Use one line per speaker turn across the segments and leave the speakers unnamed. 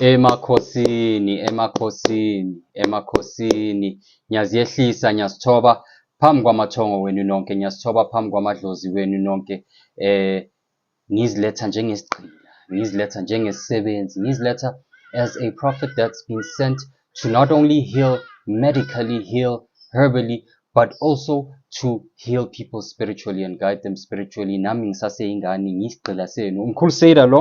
Emakhosini, emakhosini, emakhosini, ngiyaziyehlisa, ngiyazithoba phambi kwamathongo wenu nonke, ngiyazithoba phambi kwamadlozi wenu nonke, eh, Ngiziletha njengesigqila, ngiziletha njengesisebenzi, ngiziletha as a prophet that's been sent to not only heal, medically heal, herbally, but also to heal people spiritually and guide them spiritually. Nami ngisaseyingane, ngiyisigqila senu. Umkhulu Seda lo.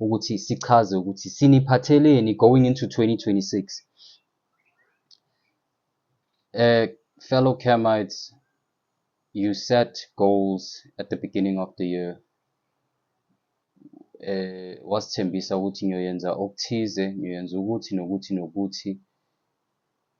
ukuthi sichaze ukuthi siniphatheleni going into 2026 uh, fellow Camites you set goals at the beginning of the year eh wasithembisa ukuthi ngiyoyenza okuthize ngiyoyenza ukuthi nokuthi nokuthi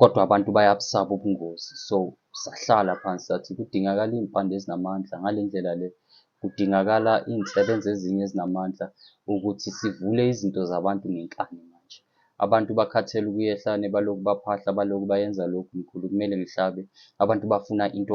Kodwa abantu bayabusaba ubungozi so sahlala phansi sathi kudingakala iy'mpande ezinamandla ngale ndlela le kudingakala iy'nsebenza ezinye ezinamandla ukuthi sivule izinto zabantu ngenkani manje. Abantu bakhathele ukuya ehlane balokhu baphahla balokhu bayenza lokhu mkhulu kumele ngihlabe. Abantu bafuna into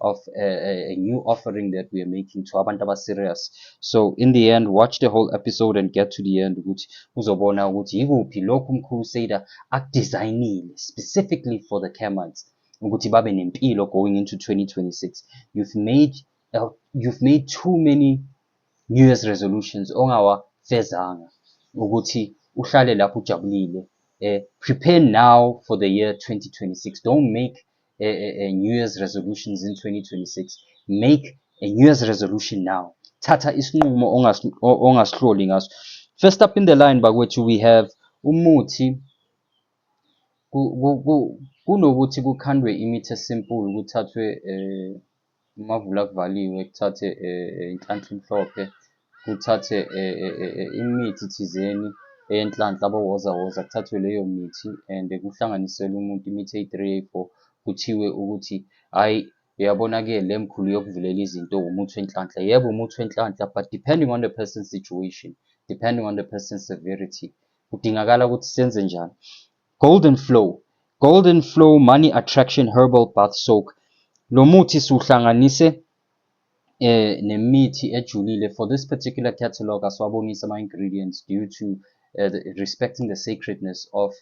of a, a, a new offering that we are making to abantu abaserious so in the end watch the whole episode and get to the end ukuthi uzobona ukuthi yikuphi lokhu umkhulu Sader akudesignile specifically for the Kermans ukuthi babe nempilo going into 2026 you've made uh, you've made too many new year's resolutions ongawafezanga ukuthi uhlale lapho ujabulile uh, prepare now for the year 2026 don't make a, a, a new year's resolutions in 2026 make a new year's resolution now thatha isinqumo ongasihloli ngaso first up in the line bakwethu we have umuthi kunokuthi kukhandwe imithi esimple kuthathwe um Amavula kuvaliwe kuthathe inhlanhla emhlophe, kuthathe imithi thizeni eyenhlanhla abowozawoza, kuthathwe leyo mithi and kuhlanganiselwe umuntu imithi eyi-three eyi-four, kuthiwe ukuthi hhayi uyabona-ke le mkhulu yokuvulela izinto umuthi wenhlanhla. Yebo umuthi wenhlanhla but depending on the person's situation, depending on the person's severity, kudingakala ukuthi senze njani. Golden Flow Golden Flow Money Attraction Herbal Bath Soak. Lo muthi siwuhlanganise eh nemithi ejulile for this particular catalog asiwabonisa ama ingredients due to uh, the, respecting the sacredness of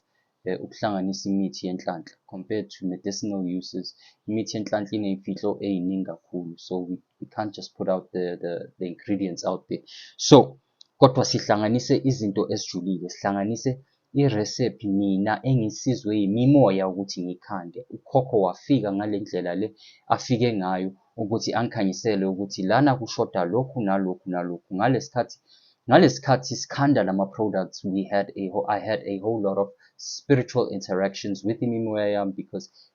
eh, ukuhlanganisa imithi yenhlanhla compared to medicinal uses imithi yenhlanhla ineyimfihlo eyiningi kakhulu so we, we can't just put out the, the, the ingredients out there so Kodwa sihlanganise izinto ezijulile, sihlanganise iresephi mina engisizwe yimimoya ukuthi ngikhande. Ukhokho wafika ngale ndlela le afike ngayo ukuthi angikhanyisele ukuthi lana kushoda lokhu nalokhu nalokhu. Ngalesikhathi ngalesikhathi sikhanda lama products we had a I had a whole lot of spiritual interactions with imimoya yami because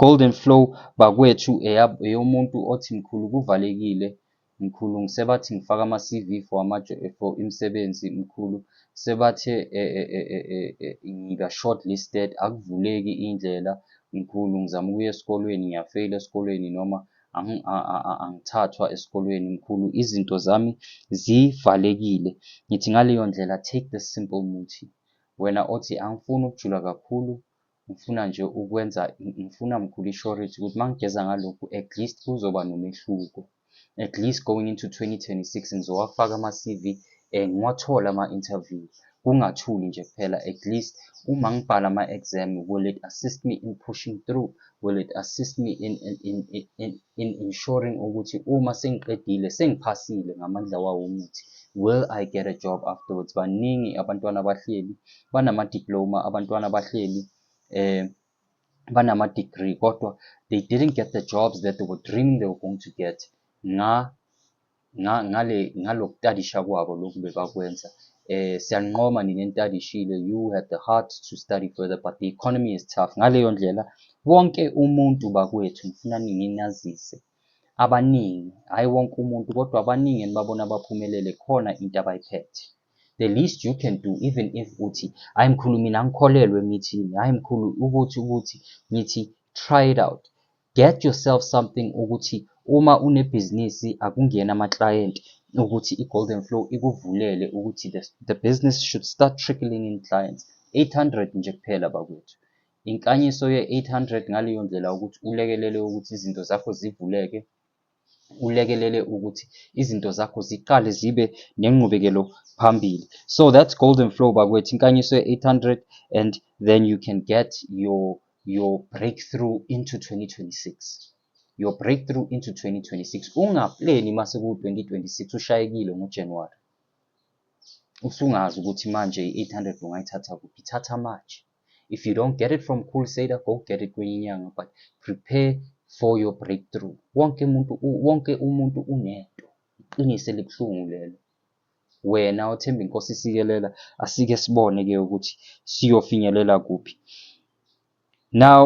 Golden flow bakwethu eyomuntu othi mkhulu kuvalekile mkhulu ngisebathi ngifaka ama CV for ama for imisebenzi mkhulu sebathe e, e, e, e, e, e, ngiba shortlisted akuvuleki indlela mkhulu ngizama ukuya esikolweni ngiyafeyila esikolweni noma angithathwa esikolweni mkhulu izinto zami zivalekile ngithi ngaleyo ndlela take the simple muthi wena othi angifuni ukujula kakhulu Ngifuna nje ukwenza, ngifuna mkhulu ishorage ukuthi uma ngigeza ngalokhu at least kuzoba nomehluko. At least going into 2026 ngizowafaka ama-CV um ngiwathole ama-interview. Kungathuli nje kuphela at least uma ngibhala ama-exam will it assist me in pushing through? Will it assist me in, in, in, in, in ensuring ukuthi uma sengiqedile sengiphasile ngamandla wawo umuthi will I get a job afterwards? Baningi abantwana abahleli banama-diploma abantwana bahleli eh banama-degree kodwa they didn't get the jobs that they were dreaming they were going to get nga nga ngale ngalokutadisha kwabo lokhu bebakwenza eh siyanqoma nina entadishile you had the heart to study further but the economy is tough ngaleyo ndlela wonke umuntu bakwethu ngifuna ninginazise abaningi hhayi wonke umuntu kodwa abaningi enibabona baphumelele khona into abayiphethe the least you can do even if uthi hayi mkhulu mina ngikholelwe emithini hayi mkhulu ukuthi ukuthi ngithi try it out get yourself something ukuthi uma unebhizinisi akungena ama-client ukuthi i-golden flow ikuvulele ukuthi the, the business should start trickling in clients 800 nje kuphela bakwethu inkanyiso ye-800 ngaleyo ndlela ukuthi ulekelele ukuthi izinto zakho zivuleke ulekelele ukuthi izinto zakho ziqale zibe nenqubekelo phambili so that's golden flow bakwethu inkanyiso ye-800 and then you can get your your breakthrough into 2026 your breakthrough into 2026 ungapleni uma sekuwu-2026 ushayekile ngojanuwari usungazi ukuthi manje i-800 ungayithatha kuphi thatha manje if you don't get it from cool sader go get it kwenye inyanga but prepare for your breakthrough wonke umuntu wonke umuntu unento iqiniso elibuhlungu lelo wena othemba inkosi isikelela asike sibone ke ukuthi siyofinyelela kuphi now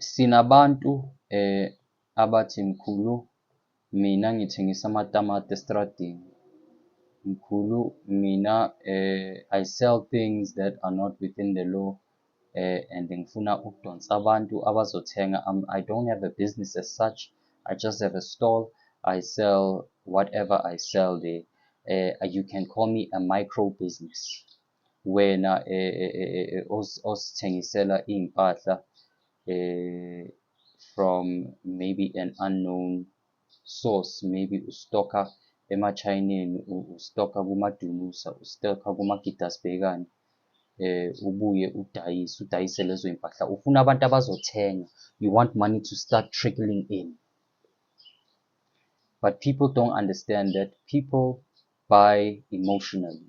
Sinabantu abathi mkhulu mina ngithengisa amatamati estradini. Mkhulu mina I sell things that are not within the law and ngifuna ukudonsa abantu abazothenga. I don't have a business as such, I just have a stall, I sell whatever I sell there. You can call me a micro business. Wena osithengisela iy'mpahla from maybe an unknown source, maybe ustock-a emaChayineni, ustock-a kumaDunusa, ustock-a kumaGidasbhekane, ubuye udayise, udayise lezo y'mpahla. Ufuna abantu abazothenga, you want money to start trickling in. But people don't understand that people buy emotionally.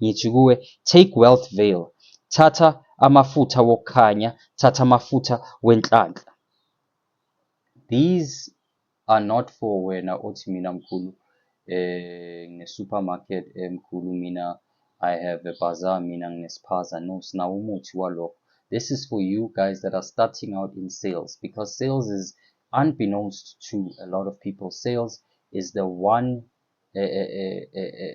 Ngithi kuwe, Take wealth veil, thatha amafutha wokukhanya, thatha amafutha wenhlanhla. These are not for wena othi mina mkhulu eh ngine-supermarket eh mkhulu mina I have a bazaar mina nginesiphaza. No, sinawo umuthi walokho. This is for you guys that are starting out in sales because sales is unbeknownst to a lot of people. Sales is the one uh, uh, uh,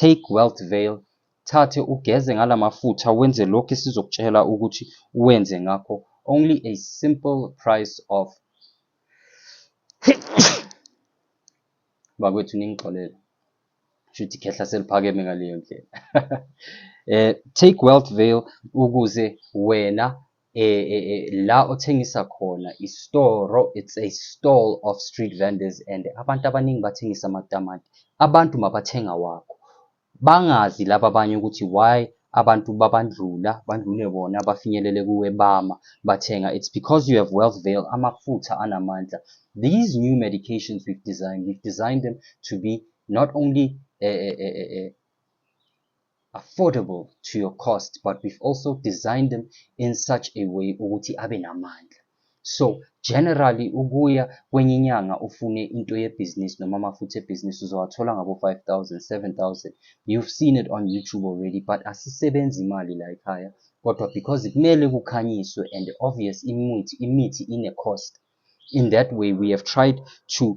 Take Wealth Veil, thathe ugeze ngala mafutha wenze lokhu esizokutshela ukuthi wenze ngakho only a simple price of bakwethu ningixolele shuthi khehla seliphakeme ngaleyo ndlela eh take wealth veil ukuze wena eh, eh, eh, la othengisa khona istoro it's a stall of street vendors and abantu abaningi bathengisa amatamati abantu mabathenga wakho bangazi laba abanye ukuthi why abantu babandlula bandlule bona bafinyelele kuwe bama bathenga it's because you have wealth veil amafutha anamandla these new medications we've designed we've designed them to be not only uh, uh, uh, affordable to your cost but we've also designed them in such a way ukuthi abe namandla so generally ukuya kwenye inyanga ufune into yebhizinisi noma amafutha ebhizinisi uzowathola ngabo-5000 7000 you've seen it on youtube already but asisebenzi imali la ekhaya kodwa because kumele kukhanyiswe and obvious imithi imithi ine-cost in that way we have tried to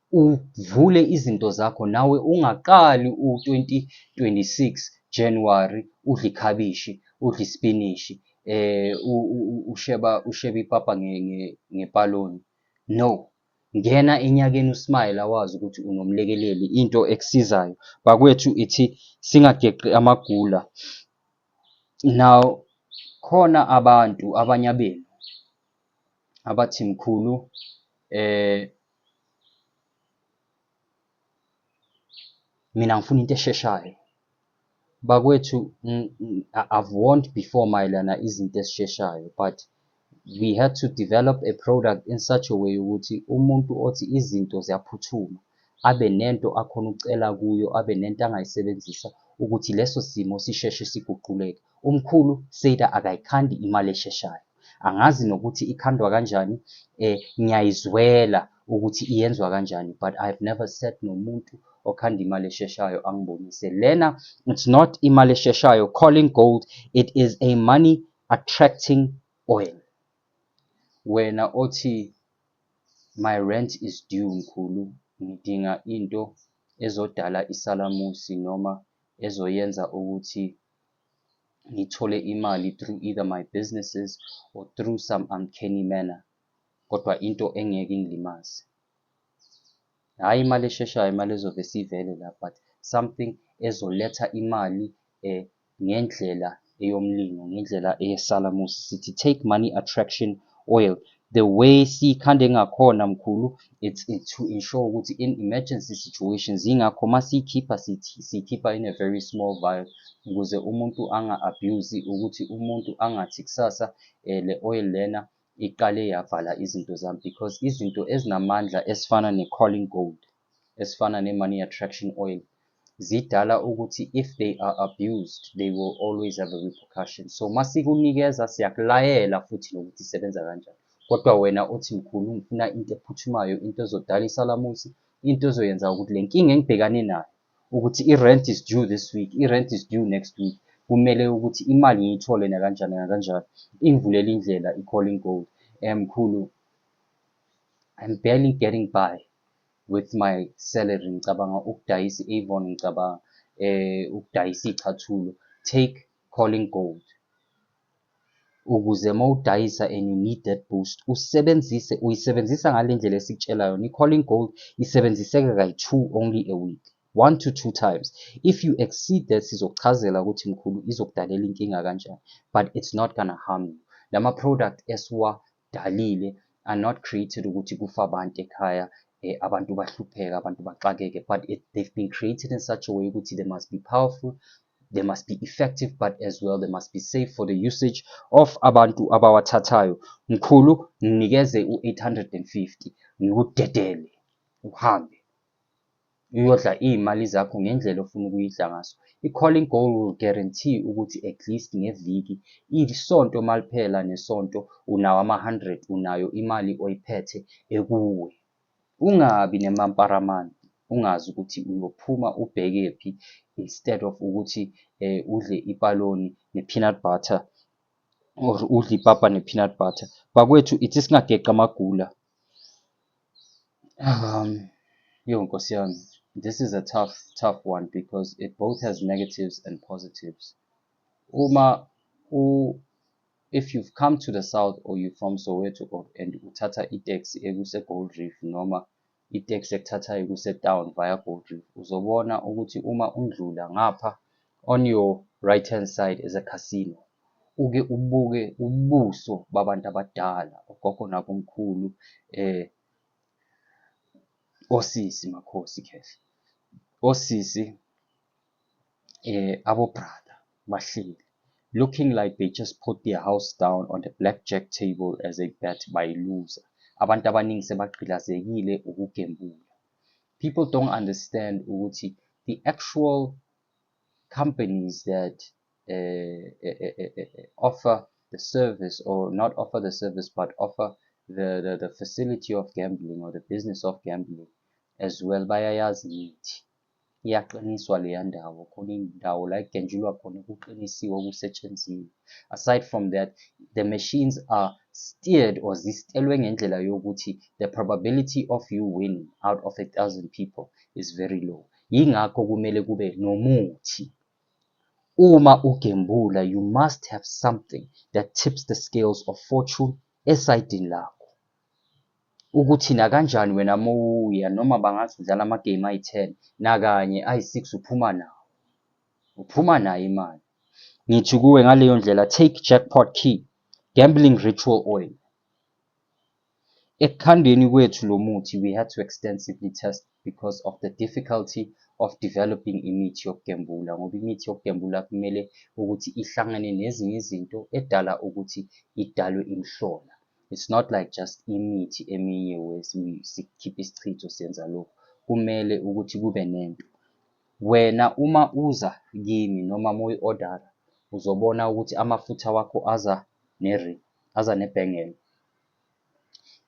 uvule izinto zakho nawe ungaqali u-2026 January udle ikhabishi udle isipinishi eh usheba usheba ipapa ngepaloni no ngena enyakeni usmile awazi ukuthi unomlekeleli into ekusizayo bakwethu ithi singageqi amagula now khona abantu abanye abenu abathi mkhulu eh mina ngifuna into esheshayo bakwethu ng- ng- I- i've warned before mayelana izinto ezisheshayo but we had to develop a product in such a way ukuthi umuntu othi izinto ziyaphuthuma abe nento akhona ukucela kuyo abe nento angayisebenzisa ukuthi leso simo sisheshe siguquleke umkhulu seda akayikhandi imali esheshayo angazi nokuthi ikhandwa kanjani eh ngiyayizwela ukuthi iyenzwa kanjani but i've never sat nomuntu okhanda imali esheshayo angibonise lena it's not imali esheshayo calling gold it is a money attracting oil wena othi my rent is due mkhulu ngidinga into ezodala isalamusi noma ezoyenza ukuthi ngithole imali through either my businesses or through some uncanny manner kodwa into engeke ingilimaze hhayi imali esheshayo imali ezove sivele la but something ezoletha imali um ngendlela eyomlingo ngendlela eyesalamusi sithi take money attraction oil the way sikhande ngakhona mkhulu it's to ensure ukuthi in emergency situations yingakho uma siyikhipha siyikhipha in a very small vial ukuze umuntu anga-abuse ukuthi umuntu angathi kusasa um le oil lena iqale yavala izinto zami because izinto ezinamandla esifana ne-calling gold esifana ne money attraction oil zidala ukuthi if they are abused they will always have a repercussion so masikunikeza siyakulayela futhi nokuthi isebenza kanjani kodwa wena othi mkhulu ngifuna into ephuthumayo into ezodala isalamusi into ezoyenza ukuthi le nkinga engibhekane nayo ukuthi i-rent is due this week i-rent is due next week kumele ukuthi imali ngiyithole nakanjani nakanjani ingivulele indlela i-calling gold um mkhulu I'm barely getting by with my salary ngicabanga ukudayisa i-Avon ngicabanga eh ukudayisa ichathulo take calling gold ukuze mawudayisa and you need that boost usebenzise uyisebenzisa ngale ndlela esikutshela yona i-calling gold isebenziseka kayi-two only a week one to two times if you exceed that sizokuchazela ukuthi mkhulu izokudalela inkinga kanjani but it's not gonna harm you lama-product esiwa dalile are not created ukuthi kufa abantu ekhaya eh, abantu bahlupheka abantu baxakeke but it, they've been created in such a way ukuthi they must be powerful they must be effective but as well they must be safe for the usage of abantu abawathathayo mkhulu nginikeze u-850 ngikudedele uhambe Uyodla iy'mali zakho ngendlela ofuna ukuyidla ngaso. I-calling goal will guarantee ukuthi at least ngeviki, isonto maliphela nesonto unawo ama-100, unayo imali oyiphethe ekuwe. Ungabi nemamparamani, ungazi ukuthi uyophuma ubhekephi instead of ukuthi eh, udle ipaloni ne-peanut butter or udle ipapa ne-peanut butter. Bakwethu ithi singageqa amagula Um, yo nkosi yami, this is a tough tough one because it both has negatives and positives. Uma u if you've come to the south or you from Soweto or and uthatha i-taxi ekuse Gold Reef noma i-taxi ekuthathayo kuse town via Gold Reef uzobona ukuthi uma undlula ngapha On your right hand side is a casino. Uke ubuke ubuso babantu abadala, ogogo nabomkhulu, eh osisi makhosi khehla. Osisi eh abo brother bahleli. Looking like they just put their house down on the blackjack table as a bet by loser. Abantu abaningi sebagqilazekile ukugembula. People don't understand ukuthi the actual companies that uh, uh, offer the service or not offer the service but offer the, the, the facility of gambling or the business of gambling as well bayayazi ngithi iyaqiniswa leya ndawo khona indawo la ekugenjulwa khona kuqinisiwe okusetshenziwe aside from that the machines are steered or zistelwe ngendlela yokuthi the probability of you winning out of a thousand people is very low yingakho kumele kube nomuthi uma ugembula you must have something that tips the scales of fortune esayidini lakho ukuthi nakanjani wena mowuya noma bangathi udlala amagame ayi-ten nakanye ayi-six uphuma nawo uphuma nayo imali ngithi kuwe ngaleyo ndlela take jackpot key gambling ritual oil Ekukhandeni kwethu lo muthi we had to extensively test because of the difficulty of developing imithi yokugembula ngoba imithi yokugembula kumele ukuthi ihlangane nezinye izinto edala ukuthi idalwe imhlola. It's not like just imithi eminye sikhipha isichitho senza lokhu. Kumele ukuthi kube nento. Wena uma uza kimi noma uma uyi-odara uzobona ukuthi amafutha wakho aza ne-ring. aza nebhengela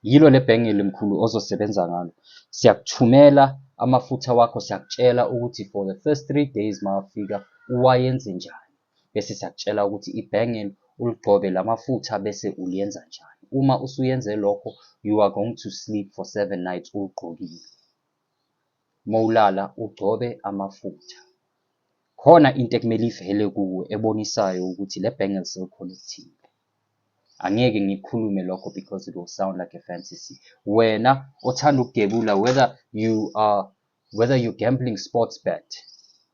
yilo le bhengeli mkhulu ozosebenza ngalo siyakuthumela amafutha wakho siyakutshela ukuthi for the first three days mawafika uwayenze njani bese siyakutshela ukuthi ibhengeli uligcobe la mafutha bese uliyenza njani uma usuyenze lokho you are going to sleep for seven nights uwugqokile mowulala ugcobe amafutha. Khona into ekumele ivele kuwe ebonisayo ukuthi le bangle selikhona ekuthile. Angeke ngikhulume lokho because it will sound like a fantasy. Wena othanda ukugebula whether you are whether you gambling sports bet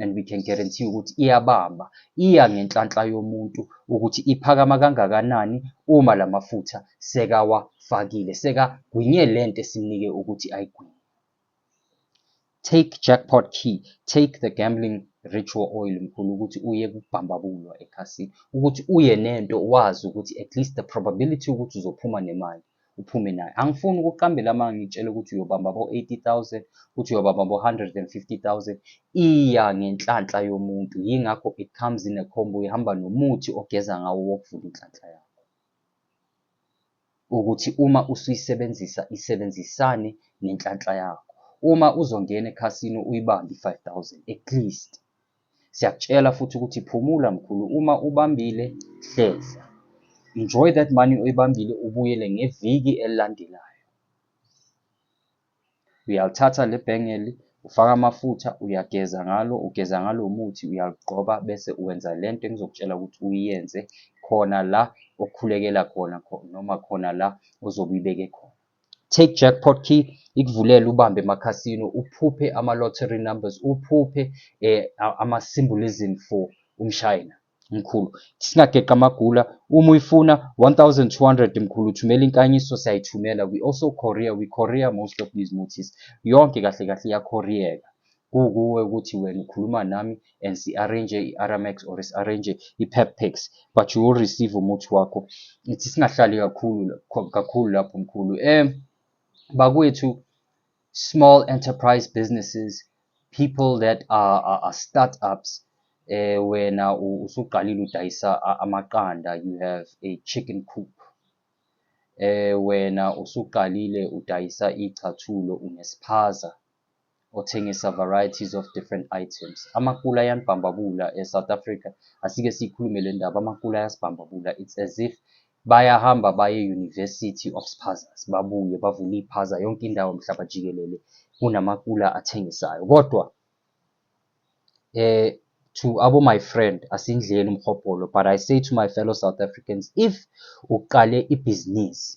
and we can guarantee ukuthi iyabamba iya ngenhlanhla yomuntu ukuthi iphakama kangakanani uma lamafutha sekawafakile sekagwinye lento esimnike ukuthi ayigwinye take jackpot key take the gambling ritual oil mkhulu ukuthi uye kubhambabulwa ekhasini ukuthi uye nento wazi ukuthi at least the probability ukuthi uzophuma nemali uphume nayo angifuni ukuqambela amanga ngitshele ukuthi uyobamba bo-80000 ukuthi uyobamba bo-150000 iya ngenhlanhla yomuntu yingakho it comes in a combo ihamba nomuthi ogeza ngawo wokuvula inhlanhla yakho ukuthi uma usuyisebenzisa isebenzisane nenhlanhla yakho uma uzongena ekhasini uyibambe i-5000 at least Siyakutshela futhi ukuthi phumula mkhulu uma ubambile hlehla. Enjoy that money oyibambile ubuyele ngeviki elilandelayo. Uyalithatha le bhengeli ufaka amafutha uyageza ngalo ugeza ngalo muthi uyalugqoba bese uwenza le nto engizokutshela ukuthi uyenze khona la okhulekela khona noma khona la ozobe uyibeke khona. Take Jackpot Key ikuvulele ubambe emakhasino, uphuphe ama-lottery numbers, uphuphe eh, ama-symbolism for umshayina mkhulu singageqa amagula uma uyifuna 1200 mkhulu thumela inkanyiso siyayithumela we also courier we courier most of these mutis yonke kahle kahle iyakhoriyeka kukuwe ukuthi wena ukhuluma nami and si arrange i-Aramax or si arrange i-Pep packs but you will receive umuthi wakho ithi singahlali kakhulu kakhulu lapho mkhulu eh bakwethu small enterprise businesses people that are, are, are startups eh wena usuqalile udayisa amaqanda you have a chicken coop eh wena usuqalile udayisa ichathulo unesiphaza othengisa varieties of different items. Amakula ayanibhambabula e-South Africa, asike siyikhulume le ndaba, amakula ayasibhambabula. It's as if bayahamba baye e-University of Spazas, babuye bavule iphaza yonke indawo mhlaba jikelele, kunamakula athengisayo. Kodwa eh to abo my friend asindleni umhobholo but i say to my fellow south africans if uqale ibhizinisi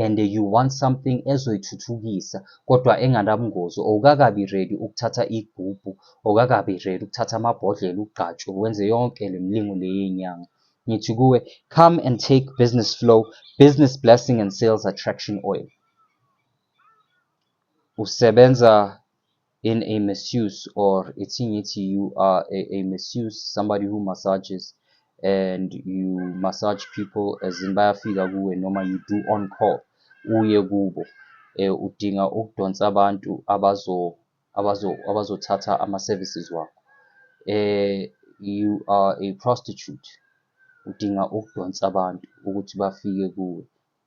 and you want something ezoyithuthukisa kodwa enganabungozi owukakabi ready ukuthatha igubhu owukakabi ready ukuthatha amabhodlela ugqatshwe wenze yonke le mlingo leyenyanga ngithi kuwe come and take business flow business blessing and sales attraction oil usebenza in a misuse or ithi ngithi you are a, a misuse somebody who massages and you massage people as in bayafika kuwe noma you do on call uye kubo eh, udinga ukudonsa abantu abazo abazo abazothatha ama services wakho eh you are a prostitute udinga ukudonsa abantu ukuthi bafike kuwe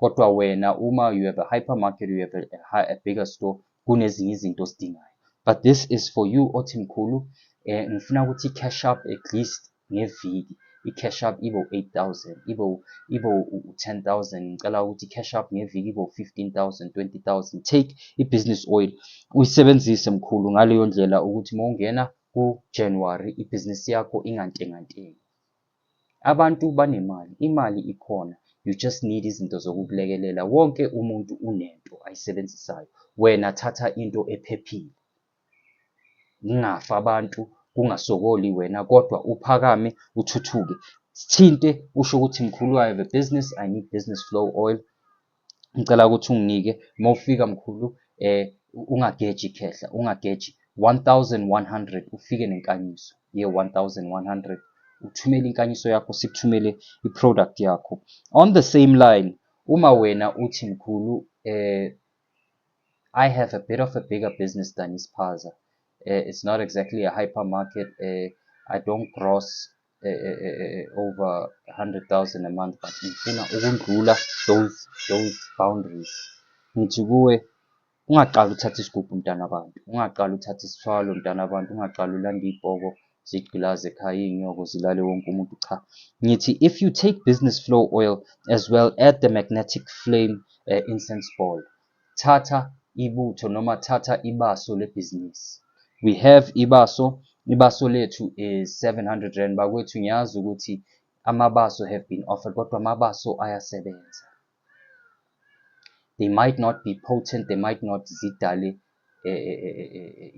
kodwa wena uma you have a hypermarket you have a, a bigger store kunezinye izinto osidingayo but this is for you othi mkhulu eh ngifuna ukuthi cash up at least ngeviki i-cash up ibe u-8000 ibe ibe u-10000 ngicela ukuthi i-cash up ngeviki ibe u-15000 20000 take i-business oil uyisebenzise mkhulu ngaleyo ndlela ukuthi uma ungena ku-january ibhizinisi yakho ingantengantengi Abantu banemali, imali ikhona you just need izinto zokukulekelela. Wonke umuntu unento ayisebenzisayo. Wena thatha into ephephile. Ngingafa abantu kungasokoli wena kodwa uphakame uthuthuke. Sithinte usho ukuthi mkhulu I have a business, I need business flow oil. ngicela ukuthi unginike uma ufika mkhulu eh ungageji khehla ungageji 1100 ufike nenkanyiso ye 1100 uthumele inkanyiso yakho sikuthumele iproduct yakho on the same line uma wena uthi mkhulu eh I have a bit of a bigger business than Ispaza uh, eh, it's not exactly a hypermarket uh, I don't gross eh, eh, eh, eh, eh over 100,000 a month but ngifuna ukundlula those those boundaries ngithi kuwe ungaqala uthathe isigubhu mntana abantu ungaqala uthathe isithwalo mntana abantu ungaqala ulanda ibhoko zigqilaze ekhaya iy'nyoko zilale wonke umuntu cha ngithi if you take business flow oil as well add the magnetic flame uh, incense ball Thatha ibutho noma thatha ibaso lebhizinisi. We have ibaso. Ibaso lethu is 700 rand. Bakwethu ngiyazi ukuthi amabaso have been offered kodwa amabaso ayasebenza. They might not be potent, they might not zidale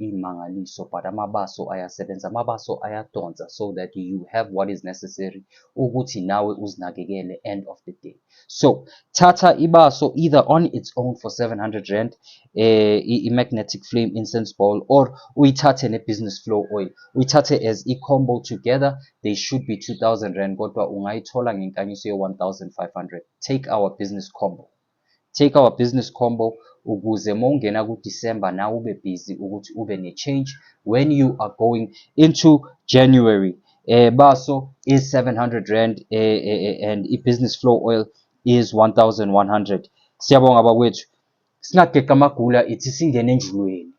iy'mangaliso but amabaso ayasebenza amabaso ayadonsa so that you have what is necessary ukuthi nawe uzinakekele end of the day so thatha ibaso either on its own for 700 rand eh, i-magnetic flame incense ball or uyithathe ne-business flow oil uyithathe as i-combo together they should be 2000 rand kodwa ungayithola ngenkanyiso ye-1500 take our business combo Take our business combo ukuze mawungena ku December nawe ube busy ukuthi ube ne change when you are going into January. Eh baso is 700 rand eh, eh, eh, and i business flow oil is 1100. Siyabonga bakwethu. Singageqa amagula ithi singene enjulweni.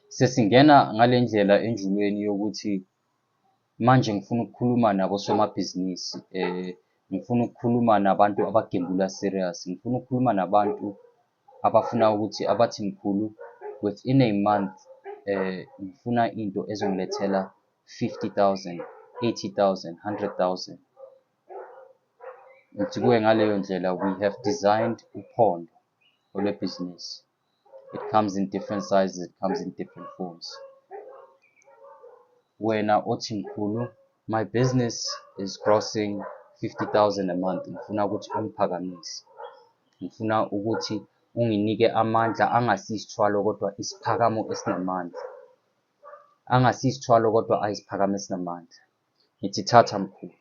Sesingena ngalendlela enjulweni yokuthi Manje ngifuna ukukhuluma nabosomabhizinisi, ngifuna ukukhuluma nabantu abagembula serious. Ngifuna ukukhuluma nabantu abafuna ukuthi abathi mkhulu within a month ngifuna into ezongilethela fifty thousand, eighty thousand, hundred thousand. Ngithi kuwe ngaleyo ndlela we have designed uphondo olwebhizinisi. it comes in different sizes it comes in different forms wena othi mkhulu my business is crossing 50000 a month ngifuna ukuthi ungiphakamise ngifuna ukuthi unginike amandla angasisithwalo kodwa isiphakamo esinamandla angasisithwalo kodwa ayisiphakamo esinamandla ngithi thatha mkhulu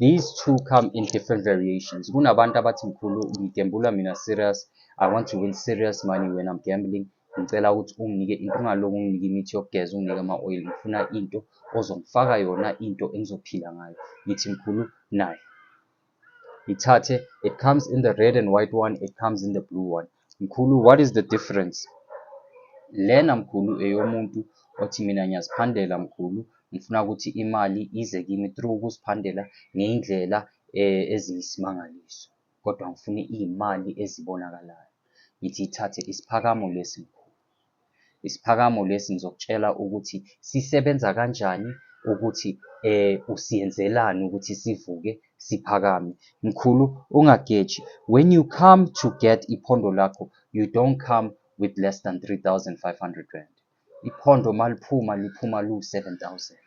these two come in different variations kunabantu abathi mkhulu ngigembula mina serious i want to win serious money when i'm gambling ngicela ukuthi unginike into ungaloku unginike imithi yokugeza unginike ama-oil ngifuna into ozongifaka yona into engizophila ngayo ngithi mkhulu nayo ngithathe it comes in the red and white one it comes in the blue one mkhulu what is the difference lena mkhulu eyomuntu othi mina ngiyaziphandela mkhulu ngifuna ukuthi imali ize kimi through ukuziphandela ngeyindlela eh, eziyisimangaliso kodwa ngifuna iyimali ezibonakalayo ngithi ithathe isiphakamo lesi mkhulu Isiphakamo lesi ngizokutshela ukuthi sisebenza kanjani ukuthi eh usiyenzelani ukuthi sivuke siphakame. Mkhulu ungageji. When you come to get iphondo lakho, you don't come with less than 3500 rand. Iphondo maliphuma liphuma lu 7000.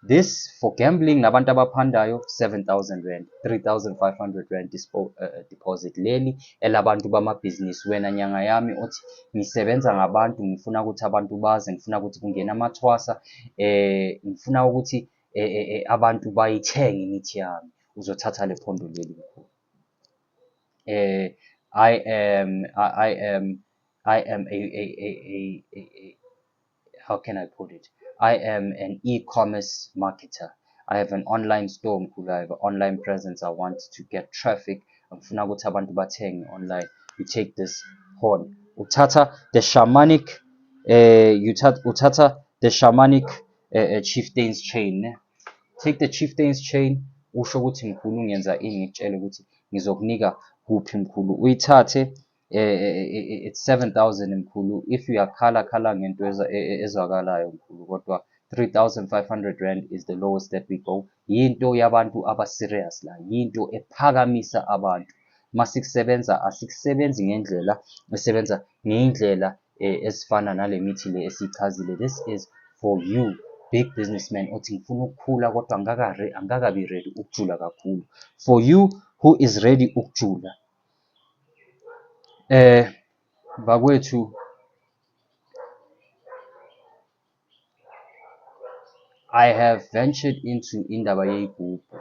this for gambling nabantu abaphandayo 7000 rand 3500 rand uh, uh, deposit leli elabantu bamabhizinisi wena nyanga yami othi ngisebenza ngabantu ngifuna ukuthi abantu baze ngifuna ukuthi kungena amathwasa eh ngifuna ukuthi eh, eh, eh abantu bayithenge imithi yami uzothatha le phondo leli mkhulu eh i am i am i am a a a a, a, a how can I put it? I am an e-commerce marketer. I have an online store mkhulu. I have an online presence. I want to get traffic. Ngifuna ukuthi abantu bathenge online. You take this horn. Uthatha the shamanic uh, you uthatha the shamanic uh, chieftain's chain. Take the chieftain's chain. Usho ukuthi mkhulu ngenza ini ngikutshele ukuthi ngizokunika kuphi mkhulu. Uyithathe eh, eh, eh, it's 7000 mkhulu if uyakhala khala ngento ezwakalayo mkhulu kodwa 3500 rand is the lowest that we go yinto yabantu abaserious la yinto ephakamisa abantu masikusebenza asikusebenzi ngendlela esebenza ngeyindlela ezifana nale mithi le esichazile this is for you big businessman othi ngifuna ukukhula kodwa angakabi ready ukujula kakhulu for you who is ready ukujula Eh bakwethu I have ventured into indaba yeyigubhu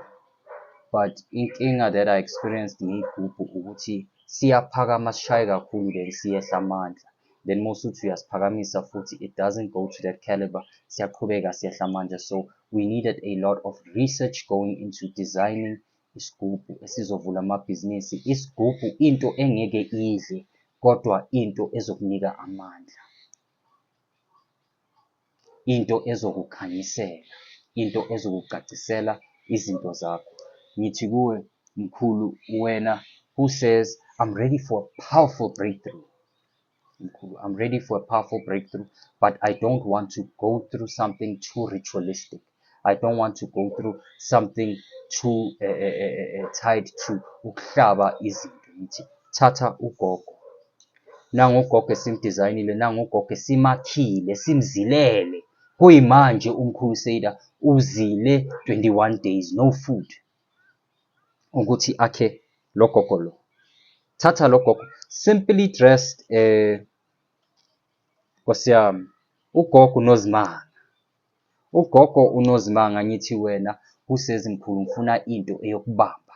but inkinga that I experienced ngeyigubhu ukuthi siyaphakama sishaye kakhulu then siyehla amandla then uma usuthi uyasiphakamisa futhi it doesn't go to that caliber siyaqhubeka siyehla amandla so we needed a lot of research going into designing Isigubhu esizovula amabhizinisi, isigubhu into engeke idle kodwa into ezokunika amandla, into ezokukhanyisela, into ezokucacisela izinto zakho. Ngithi kuwe mkhulu wena who says I'm ready for powerful breakthrough. I'm ready for a powerful breakthrough, but I don't want to go through something too ritualistic. I don't want to go through something too uh, uh, uh, tied to ukuhlaba izinto ngithi thatha ugogo nangu ugogo esimdizayinile nangu ugogo esimakhile simzilele kuyimanje umkhulu seda uzile 21 days no food ukuthi akhe lo gogo lo thatha lo gogo simply dressed eh nkosiyami ugogo unozimanga ugogo unozimanga ngithi wena kusezimkhulu ngifuna into eyokubamba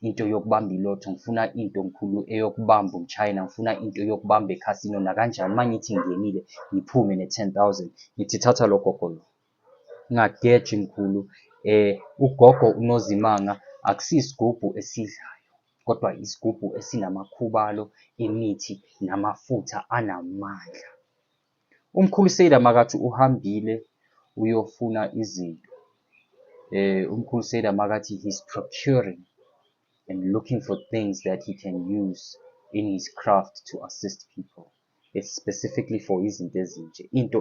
into yokubamba ilotho ngifuna into mkhulu eyokubamba umchina ngifuna into yokubamba ekhasino nakanjani uma ngithi ngingenile ngiphume ne-10 000 ngithi thatha lo gogo lo Ungageji mkhulu ugogo uNozimanga akusiyisigubhu esidlayo kodwa isigubhu esinamakhubalo emithi namafutha anamandla. Umkhulu Seder makathi uhambile uyofuna izinto. Umkhulu Seder makathi he's procuring and looking for things that he can use in his craft to assist people. specifically for izinto ezinje into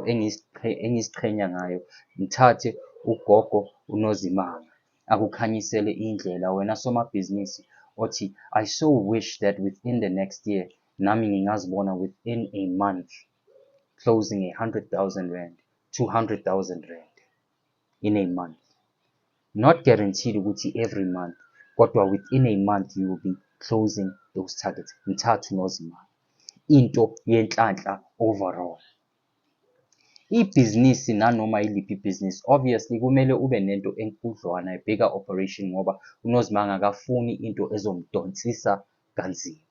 engiziqhenya ngayo ngithathe ugogo unozimanga akukhanyisele indlela wena somabhizinisi othi i so wish that within the next year nami ngingazibona within a month closing a 100,000 rand 200,000 rand in a month not guaranteed ukuthi every month kodwa within a month you will be closing those targets mthathu nozimali into yenhlanhla overall ibhizinisi nanoma yiliphi ibhizinisi obviously kumele ube nento enkudlwana ebheka operation ngoba unozimanga akafuni into ezomdonsisa kanzima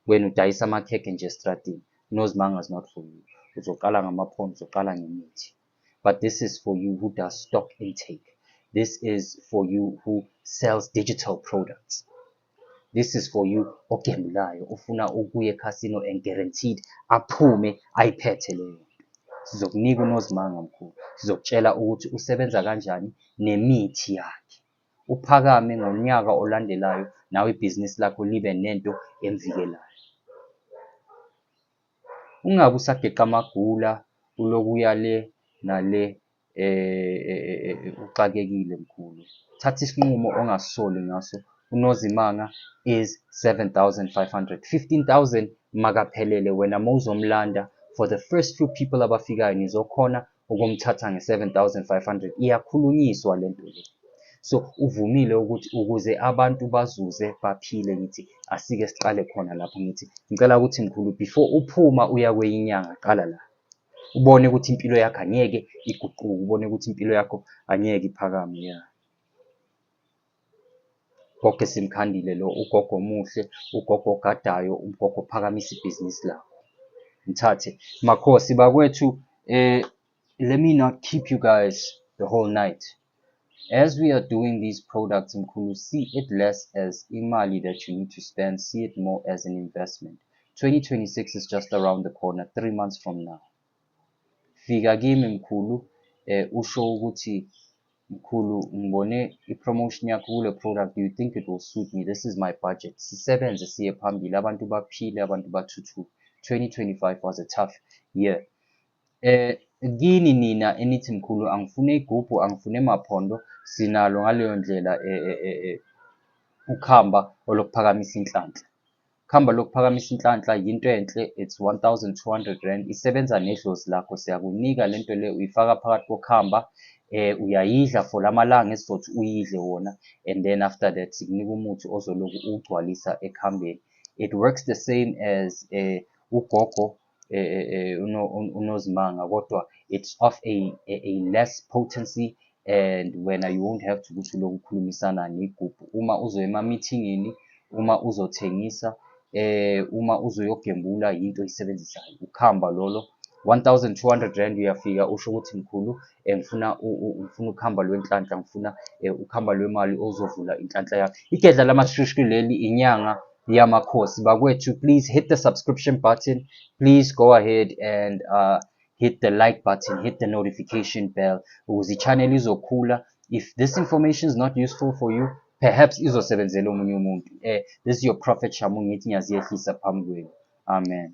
wena udayisa amakhekhe nje estradini unozimanga is not for you uzoqala ngamaphondo uzoqala ngemithi But this is for you who does stock intake. This is for you who sells digital products. This is for you ogembulayo ufuna ukuye casino and guaranteed aphume ayiphethe leyo. Sizokunika unozimanga mkhulu. Sizokutshela ukuthi usebenza kanjani nemithi yakhe. Uphakame ngonyaka olandelayo nawe ibhizinisi lakho libe nento emvikelayo. Ungabe usageqa amagula ulokhu uya le nale uxakekile mkhulu. Thatha isinqumo ongasisoli ngaso. UNozimanga is 7500. 15000 makaphelele wena mawuzomlanda for the first few people abafikayo nizokhona ukumthatha nge-7500 iyakhulunyiswa le nto le so uvumile ukuthi ukuze abantu bazuze baphile ngithi asike siqale khona lapho ngithi ngicela ukuthi mkhulu before uphuma uya kweyinyanga qala la ubone ukuthi impilo yakho angeke iguquke ubone ukuthi impilo yakho angeke iphakame ya Gogo esimkhandile lo ugogo omuhle, ugogo ogadayo, ugogo ophakamisa ibhizinisi lakho. Ngithathe. Makhosi bakwethu eh let me not keep you guys the whole night. As we are doing these products mkhulu see it less as imali that you need to spend, see it more as an investment. 2026 is just around the corner, 3 months from now. Fika kimi mkhulu eh usho ukuthi Mkhulu ngibone i-promotion yakho kule product, do you think it will suit me? This is my budget. Sisebenze siye phambili, abantu baphile, abantu bathuthuke. 2025 was a tough year. Eh kini nina enithi mkhulu angifune igubhu, angifune maphondo, sinalo ngaleyo ndlela eh, eh, eh, eh, ukuhamba olokuphakamisa inhlanhla. Khamba lokuphakamisa inhlanhla yinto enhle it's 1200 rand isebenza nedlozi lakho siyakunika lento le uyifaka phakathi kokhamba eh uyayidla for lamalanga esizothi uyidle wona and then after that sikunika umuthi ozoloku ugcwalisa ekhambeni it works the same as eh ugogo eh, eh, eh, unozimanga kodwa it's of a, a, a less potency and wena you won't have to ukuthi lokhu ukhulumisana negubhu uma uzoya emameetingini uma uzothengisa eh uma uzoyogembula yinto oyisebenzisayo ukuhamba lolo 1200 rand uyafika usho ukuthi mkhulu eh, ngifuna ngifuna ukuhamba lwenhlanhla ngifuna eh, ukuhamba lwemali ozovula inhlanhla yakho igedla lamashushku leli inyanga yamakhosi bakwethu please hit the subscription button please go ahead and uh, hit the like button hit the notification bell ukuze ichannel izokhula if this information is not useful for you perhaps izosebenzela omunye umuntu eh this is your prophet shamu ngithi ngiyaziyehlisa phambi kwenu amen